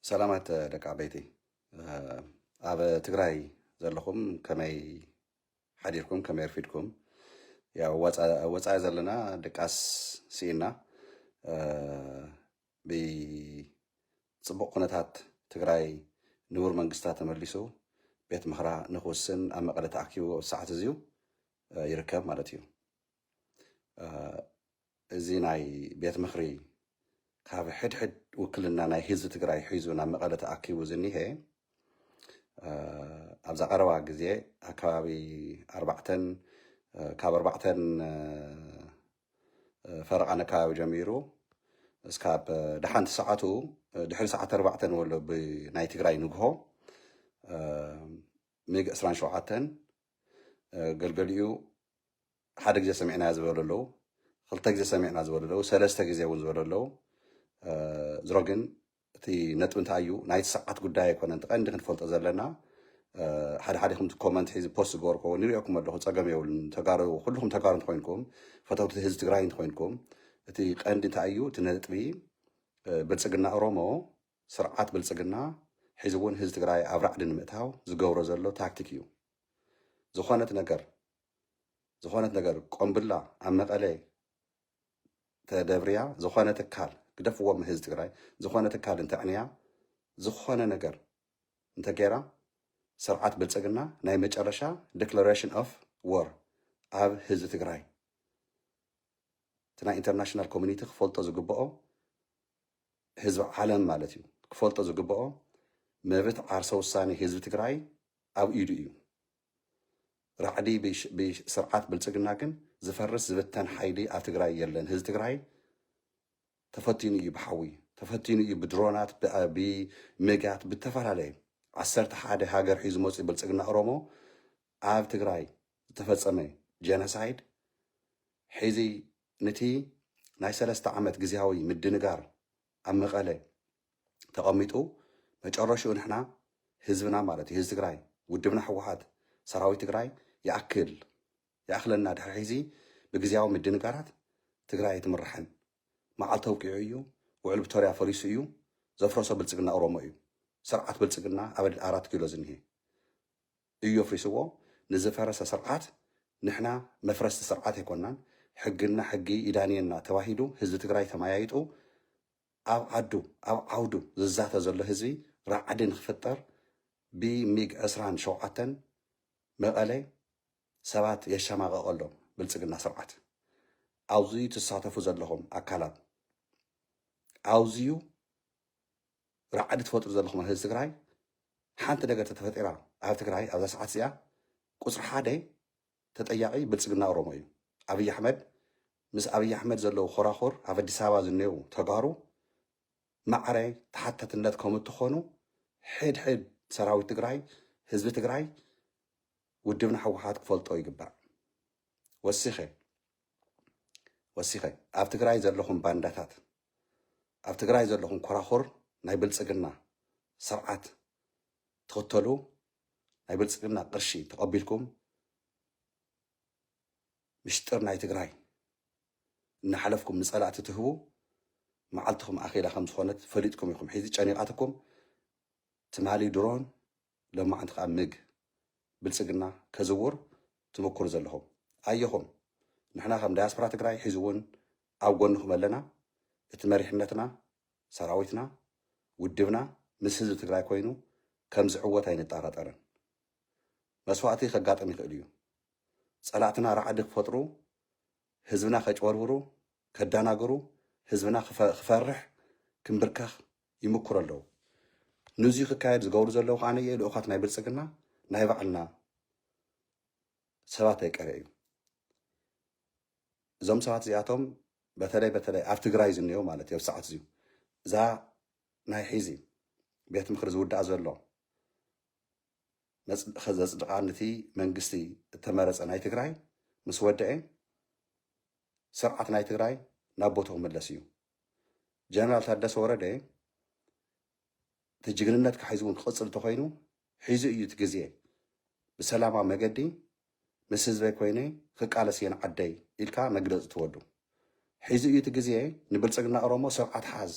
ሰላማት ደቂ ዓበይቲ ኣብ ትግራይ ዘለኹም ከመይ ሓዲርኩም ከመይ ኣርፊድኩም ያው ወፃኢ ዘለና ድቃስ ስኢና ብፅቡቅ ኩነታት ትግራይ ንቡር መንግስታ ተመሊሱ ቤት ምኽራ ንክውስን ኣብ መቐለ ተኣኪቡ ሰዓት እዚዩ ይርከብ ማለት እዩ እዚ ናይ ቤት ምኽሪ ካብ ሕድሕድ ውክልና ናይ ህዝቢ ትግራይ ሒዙ ናብ መቐለ ተኣኪቡ ዝኒሀ ኣብዛ ቀረባ ግዜ ኣከባቢ ኣርባዕተን ካብ ኣርባዕተን ፈረቓን ኣከባቢ ጀሚሩ እስካብ ደሓንቲ ሰዓቱ ድሕሪ ሰዓት ኣርባዕተ ንበሎ ብናይ ትግራይ ንግሆ ሚግ ዕስራን ሸውዓተን ገልገሊኡ ሓደ ግዜ ሰሚዕናያ ዝበሉ ኣለዉ፣ ክልተ ግዜ ሰሚዕና ዝበሉ ኣለዉ፣ ሰለስተ ግዜ እውን ዝበሉ ኣለዉ። ዝሮ ግን እቲ ነጥቢ እንታይ እዩ ናይቲ ሰዓት ጉዳይ ኣይኮነን። እቲ ቀንዲ ክንፈልጦ ዘለና ሓደ ሓደኹም እቲ ኮመንት ሒዚ ፖስት ዝገበርኩ እውን ይሪኦኩም ኣለኹ፣ ፀገም የብሉን። ተጋሩ ኩልኹም ተጋሩ እንተኮይንኩም ፈተውቲ ህዝቢ ትግራይ እንተኮይንኩም እቲ ቀንዲ እንታይ እዩ እቲ ነጥቢ ብልፅግና ኦሮሞ ስርዓት ብልፅግና ሕዚ እውን ህዝቢ ትግራይ ኣብ ራዕዲ ንምእታው ዝገብሮ ዘሎ ታክቲክ እዩ። ዝኾነት ነገር ዝኾነት ነገር ቆምብላ ኣብ መቀለ ተደብርያ ዝኾነ ትካል ግደፍዎ ህዝቢ ትግራይ ዝኾነ ትካል እንተዕንያ ዝኾነ ነገር እንተገይራ ስርዓት ብልፅግና ናይ መጨረሻ ዲክለሬሽን ኦፍ ወር ኣብ ህዝቢ ትግራይ እቲ ናይ ኢንተርናሽናል ኮሚኒቲ ክፈልጦ ዝግብኦ ህዝቢ ዓለም ማለት እዩ ክፈልጦ ዝግብኦ መብት ዓርሰ ውሳኔ ህዝቢ ትግራይ ኣብ ኢዱ እዩ ራዕዲ ብስርዓት ብልፅግና ግን ዝፈርስ ዝብተን ሓይሊ ኣብ ትግራይ የለን ህዚ ትግራይ ተፈቲኑ እዩ ብሓዊ ተፈቲኑ እዩ ብድሮናት ብሚጋት ብተፈላለየ ዓሰርተ ሓደ ሃገር ሒዙ መፅኡ ብልፅግና ኦሮሞ ኣብ ትግራይ ዝተፈፀመ ጀነሳይድ ሕዚ ንቲ ናይ ሰለስተ ዓመት ግዜያዊ ምድንጋር ኣብ መቐለ ተቐሚጡ መጨረሽኡ ንሕና ህዝብና ማለት እዩ ህዝቢ ትግራይ ውድብና ህወሓት ሰራዊት ትግራይ ይኣክል ይኣኽለና ድሕሪ ሕዚ ብግዜያዊ ምድንጋራት ትግራይ ኣይትምራሕን መዓልቲ ኣውቂዑ እዩ ውዕል ፕቶርያ ፈሪሱ እዩ ዘፍረሶ ብልፅግና ኦሮሞ እዩ ስርዓት ብልፅግና ኣብ ኣራት ኪሎ ዝኒሄ እዩ ኣፍሪስዎ ንዝፈረሰ ስርዓት ንሕና መፍረስቲ ስርዓት ኣይኮናን ሕግና ሕጊ ይዳንየና ተባሂሉ ህዝቢ ትግራይ ተመያይጡ ኣብ ዓዱ ኣብ ዓውዱ ዝዛተ ዘሎ ህዝቢ ራዕዲ ንክፍጠር ብ ሚግ ዕስራን ሸውዓተን መቀለ ሰባት የሻማቀቅ ኣሎ ብልጽግና ስርዓት ኣውዝዩ ትሳተፉ ዘለኹም ኣካላት ኣውዝዩ ራዕዲ ትፈጥሩ ዘለኹም ኣብ ህዝቢ ትግራይ ሓንቲ ነገር ተተፈጢራ ኣብ ትግራይ ኣብዛ ሰዓት እዚኣ ቁጽሪ ሓደ ተጠያቂ ብልፅግና ኦሮሞ እዩ ኣብይ ኣሕመድ ምስ ኣብይ ኣሕመድ ዘለው ኾራኹር ኣብ ኣዲስ ኣበባ ዝኔው ተጋሩ ማዕረ ተሓተትነት ከምትኾኑ ሕድ ሕድ ሰራዊት ትግራይ ህዝቢ ትግራይ ውድብና ሕወሓት ክፈልጦ ይግባእ ወሲኸ ወሲኸ ኣብ ትግራይ ዘለኹም ባንዳታት ኣብ ትግራይ ዘለኹም ኮራኹር ናይ ብልፅግና ስርዓት ትኽተሉ ናይ ብልፅግና ቅርሺ ተቐቢልኩም ምሽጥር ናይ ትግራይ እናሓለፍኩም ንፀላእቲ ትህቡ መዓልትኹም ኣኼላ ከም ዝኾነት ፈሊጥኩም ኢኹም ሒዚ ጨኒቓትኩም ትማሊ ድሮን ሎማዓንቲ ከዓ ምግ ብልፅግና ከዝውር ትምኩሩ ዘለኹም ኣየኹም ንሕና ከም ዳያስፖራ ትግራይ ሒዚ እውን ኣብ ጎንኹም ኣለና እቲ መሪሕነትና ሰራዊትና፣ ውድብና ምስ ህዝቢ ትግራይ ኮይኑ ከምዝዕወት ኣይንጣራጠርን። መስዋእቲ ከጋጥም ይኽእል እዩ። ፀላእትና ራዕዲ ክፈጥሩ፣ ህዝብና ከጭበርብሩ፣ ከዳናግሩ፣ ህዝብና ክፈርሕ፣ ክምብርከኽ ይምኩሩ ኣለው። ንዙይ ክካየድ ዝገብሩ ዘለው ከዓነ ልኡኻት ናይ ብልፅግና ናይ ባዕልና ሰባት ኣይቀረ እዩ። እዞም ሰባት እዚኣቶም በተለይ በተለይ ኣብ ትግራይ ዝንኤው ማለት እዩ ኣብ ሰዓት እዚዩ እዛ ናይ ሒዚ ቤት ምክሪ ዝውዳእ ዘሎ ዘፅድቃ ንቲ መንግስቲ እተመረፀ ናይ ትግራይ ምስ ወደኤ ስርዓት ናይ ትግራይ ናብ ቦትኡ ክምለስ እዩ ጀነራል ታደሰ ወረደ እቲ ጅግንነትካ ሒዙ እውን ክቕፅል እንተኾይኑ ሒዙ እዩ እቲ ግዜ ብሰላማዊ መገዲ ምስ ህዝበይ ኮይነ ክቃለስ እየ ንዓደይ ኢልካ መግለፂ ትወዱ ሒዙ እዩ እቲ ግዜ ንብልፅግና ኦሮሞ ስርዓት ሓዝ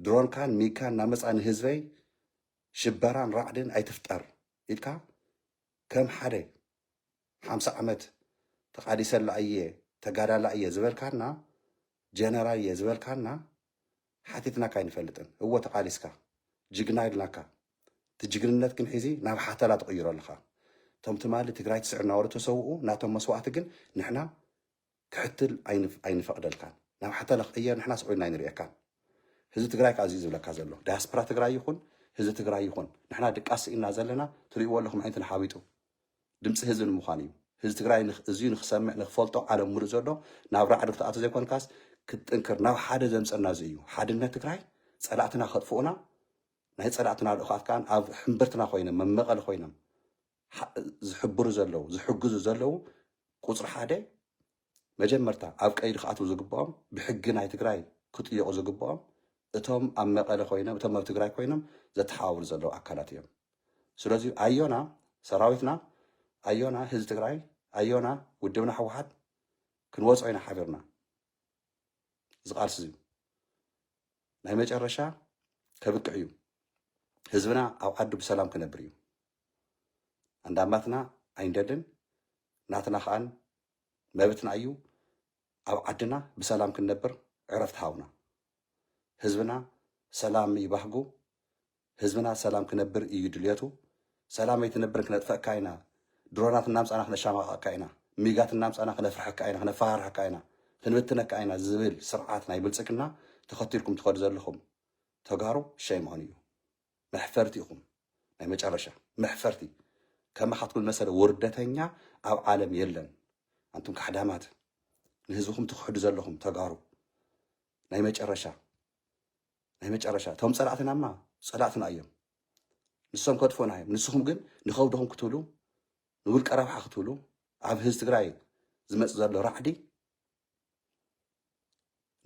ድሮንካን ሚግካን እናመፅኣ ንህዝበይ ሽበራን ራዕድን ኣይትፍጠር ኢልካ ከም ሓደ ሓምሳ ዓመት ተቃሊሰላ እየ ተጋዳላይ እየ ዝበልካና ጀነራል እየ ዝበልካና ሓቲትናካ ኣይንፈልጥን እወ ተቃሊስካ ጅግና ኢልናካ እቲ ጅግንነት ግን ሒዚ ናብ ሓተላ ትቕይሮ ኣለኻ እቶም ትማሊ ትግራይ ትስዕር እናበሉ ተሰውኡ ናቶም መስዋእቲ ግን ንሕና ክትሕትል ኣይንፈቅደልካን ናብ ሓታለ ክቅየር ንሕናስ ዑይንና ኣይንርእየካን ህዝቢ ትግራይ ከኣ እዚዩ ዝብለካ ዘሎ ዳያስፕራ ትግራይ ይኹን ህዝቢ ትግራይ ይኹን ንሕና ድቃስ ስኢንና ዘለና ትርእይዎ ኣለኹም ዓይነትና ሓዊጡ ድምፂ ህዝቢ ንምዃን እዩ ህዝቢ ትግራይ እዚዩ ንክሰምዕ ንክፈልጦ ዓለም ሙሉእ ዘሎ ናብ ራዕዲ ክትኣቶ ዘይኮንካስ ክትጥንክር ናብ ሓደ ዘምፀና እዚ እዩ ሓድነት ትግራይ ፀላእትና ከጥፍኡና ናይ ፀላእትና ልኡኻት ከኣ ኣብ ሕምብርትና ኮይኖም መመቐሊ ኮይኖም ዝሕብሩ ዘለዉ ዝሕግዙ ዘለዉ ቁፅሪ ሓደ መጀመርታ ኣብ ቀይዲ ክኣትዉ ዝግብኦም ብሕጊ ናይ ትግራይ ክጥየቑ ዝግብኦም እቶም ኣብ መቐለ ኮይኖም እቶም ኣብ ትግራይ ኮይኖም ዘተሓባብሩ ዘለዉ ኣካላት እዮም። ስለዚ ኣዮና ሰራዊትና ኣዮና ህዝቢ ትግራይ ኣዮና ውድብና ህወሓት ክንወፅኦ ኢና ሓቢርና እዚ ቃልሲ እዚ ናይ መጨረሻ ከብቅዕ እዩ ህዝብና ኣብ ዓዱ ብሰላም ክነብር እዩ ኣንዳማትና ኣይንደልን ናትና ከኣን መብትና እዩ ኣብ ዓድና ብሰላም ክንነብር ዕረፍቲ ሃውና ህዝብና ሰላም እዩ ባህጉ ህዝብና ሰላም ክነብር እዩ ድልየቱ ሰላም ኣይትነብርን ክነጥፈእካ ኢና ድሮናት እናምፃና ክነሻማቐቕካ ኢና ሚጋት እናምፃና ክነፍርሐካ ኢና ክነፈራርሐካ ኢና ክንብትነካ ኢና ዝብል ስርዓት ናይ ብልፅግና ተኸቲልኩም ትኸዱ ዘለኹም ተጋሩ ሸይም ኦን እዩ መሕፈርቲ ኢኹም ናይ መጨረሻ መሕፈርቲ ከማኻትኩም ዝመሰለ ውርደተኛ ኣብ ዓለም የለን ኣንቱም ካሕዳማት ንህዝብኹም ትኽሕዱ ዘለኹም ተጋሩ ናይ መጨረሻ ናይ መጨረሻ እቶም ፀላእትናማ ፀላእትና እዮም ንሶም ከጥፎና እዮም ንስኹም ግን ንኸብድኹም ክትብሉ ንውልቀ ረብሓ ክትብሉ ኣብ ህዝቢ ትግራይ ዝመፅ ዘሎ ራዕዲ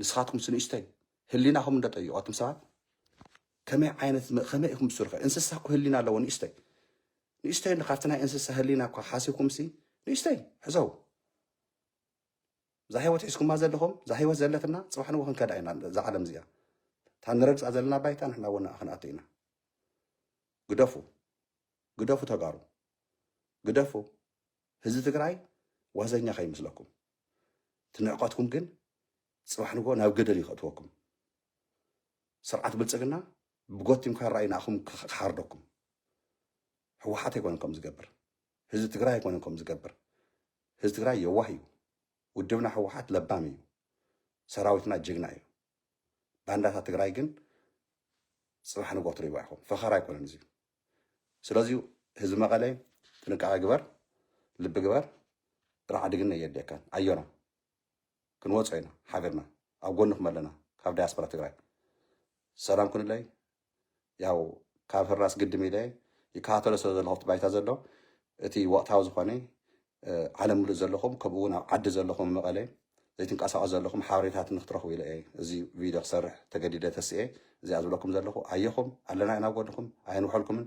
ንስኻትኩም ስንእሽተይ ህሊናኹም እንዶ ጠይቁ ኣቱም ሰባት ከመይ ዓይነት ከመይ ኢኹም ትስርሑ እንስሳ እኮ ህሊና ኣለዎ ንእሽተይ ንእሽተይ እንዶ ካብቲ ናይ እንስሳ ህሊና እኳ ሓሲብኩም ሲ ንእሽተይ ሕዘው እዛ ህይወት ሒዝኩማ ዘለኹም እዛ ህይወት ዘለትና ፅባሕ ንዎ ክንከዳ ኢና እዛ ዓለም እዚኣ እታ ንረግፃ ዘለና ባይታ ንሕና እውን ክንኣቱ ኢና ግደፉ ግደፉ ተጋሩ ግደፉ ህዝቢ ትግራይ ዋዘኛ ከይመስለኩም እቲ ንዕቀትኩም ግን ፅባሕ ንግሆ ናብ ገደል እዩ ከእትወኩም ስርዓት ብልፅግና ብጎቲም ካራ እዩ ንኣኹም ክሓርደኩም ህወሓት ኣይኮነን ከም ዝገብር ህዝቢ ትግራይ ኣይኮነን ከም ዝገብር ህዝቢ ትግራይ የዋህ እዩ ውድብና ህወሓት ለባም እዩ ሰራዊትና ጅግና እዩ ባንዳታት ትግራይ ግን ፅባሕ ንግሆ ትሪእዋ ኢኹም ፈኸራ ኣይኮነን እዚዩ ስለዚ ህዝቢ መቐለ ጥንቃቐ ግበር፣ ልቢ ግበር፣ ራዕዲ ግን ነየድልየካን። ኣዮና ክንወጾ ኢና ሓቢርና፣ ኣብ ጎንኹም ኣለና ካብ ዳያስፖራ ትግራይ። ሰላም ኩንለይ። ያው ካብ ህራስ ግድም ኢለ ይከታተሎ ስለ ዘለኹ ኣብቲ ባይታ ዘሎ እቲ ወቕታዊ ዝኾነ ዓለም ምሉእ ዘለኹም ከምኡውን ኣብ ዓዲ ዘለኹም መቐለ ዘይትንቀሳቐሱ ዘለኹም ሓበሬታት ንክትረኽቡ ኢለ እየ እዚ ቪድዮ ክሰርሕ ተገዲደ ተስኤ እዚኣ ዝብለኩም ዘለኹ ኣየኹም ኣለና ኢና ጎንኹም ኣየንውሐልኩምን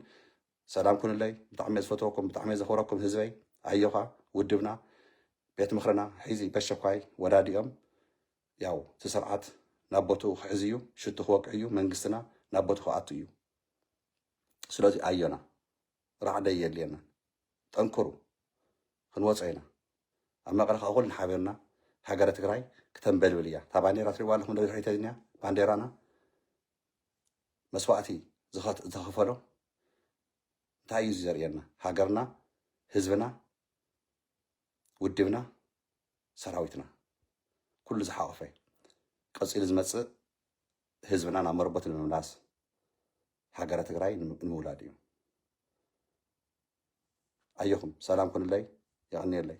ሰላም ኩንለይ ብጣዕሚ ዝፈትወኩም ብጣዕሚ ዘኽብረኩም ህዝበይ ኣዮኻ ውድብና ቤት ምክርና ሒዚ በሸኳይ ወዳዲኦም ያው እቲ ስርዓት ናብ ቦትኡ ክሕዝ እዩ ሽቱ ክወቅዕ እዩ መንግስትና ናብ ቦትኡ ክኣቱ እዩ ስለዚ ኣዮና ራዕዲ ኣየድልየናን ጠንክሩ ክንወፆ ኢና ኣብ መቀለ ከዓ ኩልና ሓቢርና ሃገረ ትግራይ ክተንበልብል እያ እታ ባንዴራ ትሪእዋ ኣለኹም ዶ ድሕሪተ ዝኒኣ ባንዴራና መስዋእቲ ዝኸት- ዝተኸፈሎ እንታይ እዩ እዚ ዘርእየና ሃገርና ህዝብና ውድብና ሰራዊትና ኩሉ ዝሓቆፈ ቀፂሉ ዝመፅእ ህዝብና ናብ መረቦት ንምምላስ ሃገረ ትግራይ ንምውላድ እዩ። ኣዮኹም ሰላም ኩኑለይ የቐንየለይ።